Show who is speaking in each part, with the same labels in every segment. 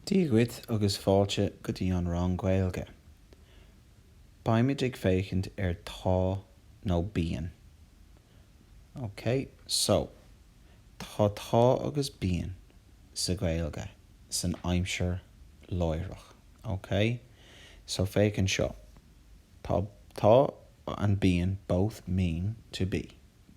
Speaker 1: Dia dhuit agus fáilte go dtí an rang Gaeilge. Beimid ag féachaint ar Tá nó Bíonn. Ok, so, tá tá agus bíonn sa Ghaeilge san aimsir láithreach. Ok? So, féach anseo. Tá and bíonn both mean to be.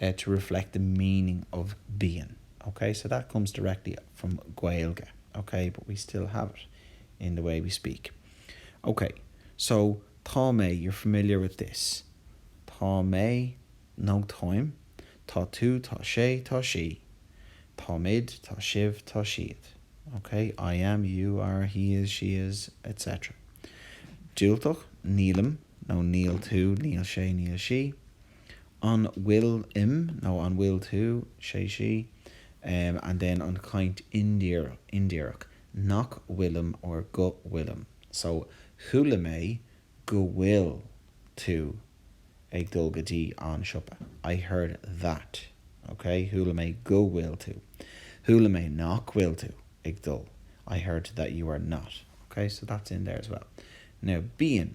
Speaker 1: to reflect the meaning of bíonn, ok? So that comes directly from Gaeilge, ok? But we still have it in the way we speak. Ok, so tá mé, you're familiar with this. Tá mé, nó táim. Tá tú, tá sé, tá sí. Táimid, tá sibh, tá siad. Ok, I am, you are, he is, she is, etc. Diúltach, nílim, nó níl, tú, níl sé, níl sí. An bhfuilim nó an bhfuil tú, sé sí, and then an chaint indíreach, nach bhfuilim or go bhfuilim. So, chuala mé go bhfuil tú ag dul go dtí an siopa. I heard that, ok? Chuala mé go bhfuil tú. Chuala mé nach bhfuil tú ag dul. I heard that you are not, ok? So, that's in there as well. Now, bíonn.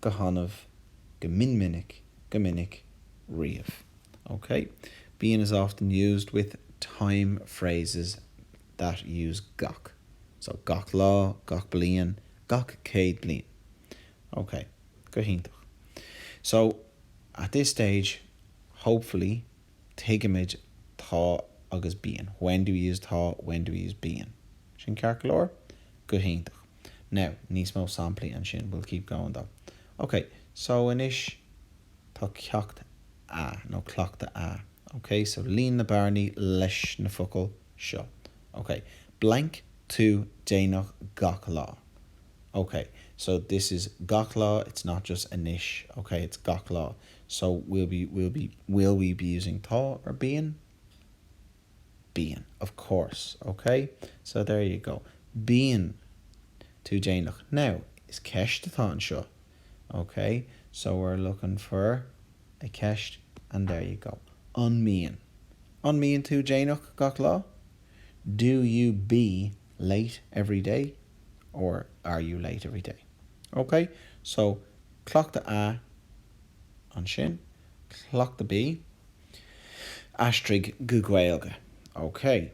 Speaker 1: go hannamh, go min minic, go minic, riamh, OK? Bíonn is often used with time phrases that use gach, so gach lá, gach bliain, gach céad bliain, OK? Go hiontach. So, at this stage, hopefully, tuigimid tá agus bíonn when do we use tá when do we use bíonn sin ceart go leor? go hiontach now níos mó samplaí ansin we'll keep going though ok so anois tá ceacht a nó cleachtadh a ok so líon na bearnaí leis na focail seo ok blank tú déanach gach lá ok so this is gach lá it's not just anois ok it's gach lá So we'll be, we'll be, will we be using tá or bíonn? Bíonn, of course, ok? So there you go. Bíonn tú déanach. Now, is ceist atá anseo, ok? So we're looking for a ceist and there you go. An mbíonn? An mbíonn tú déanach gach lá? Do you be late every day? Or are you late every day? Ok? So. Cleachtadh A, Ansin, Cleachtadh B, Aistrigh go Gaeilge. OK.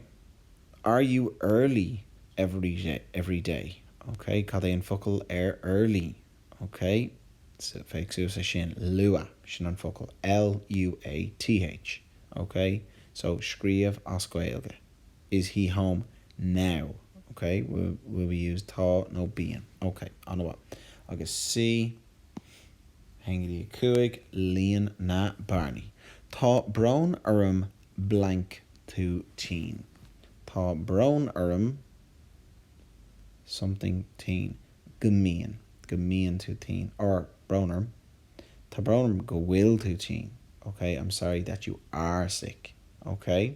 Speaker 1: Are you early every day? OK. Cad é an focal ar early? OK. So, féach thuas ansin, luath. Sin an focal. L-u-a-t-h. OK. So, scríobh as Gaeilge. Is he home now? OK, will we use tá nó bíonn? OK, an-mhaith. Agus C, a haon go dtí a cúig, líon na bearnaí. Tá brón orm blank tú tinn. Tá brón orm something tinn. go mbíonn, go mbíonn tú tinn or brón orm Tá brón orm go bhfuil tú tinn. OK, I'm sorry that you are sick. OK?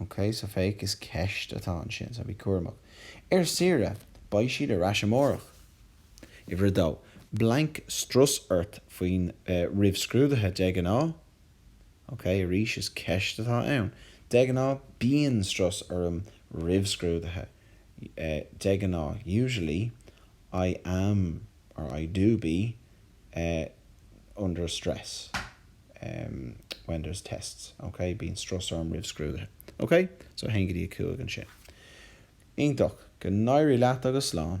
Speaker 1: OK, so féach, is ceist atá ansin, so bí cúramach. Ar saoire, beidh siad ar ais amárach. Uimhir a dó, blank strus ort faoi roimh scrúduithe, de ghnáth? OK, arís, is ceist atá ann. De ghnáth, bíonn strus orm roimh scrúduithe. De ghnáth, usually, I am or I do be under stress. when there's tests, ok? Bíonn strus orm roimh scrúduithe. Ok? So, a haon go dtí a cúig ansin. Iontach. Go n-éirí leat agus slán.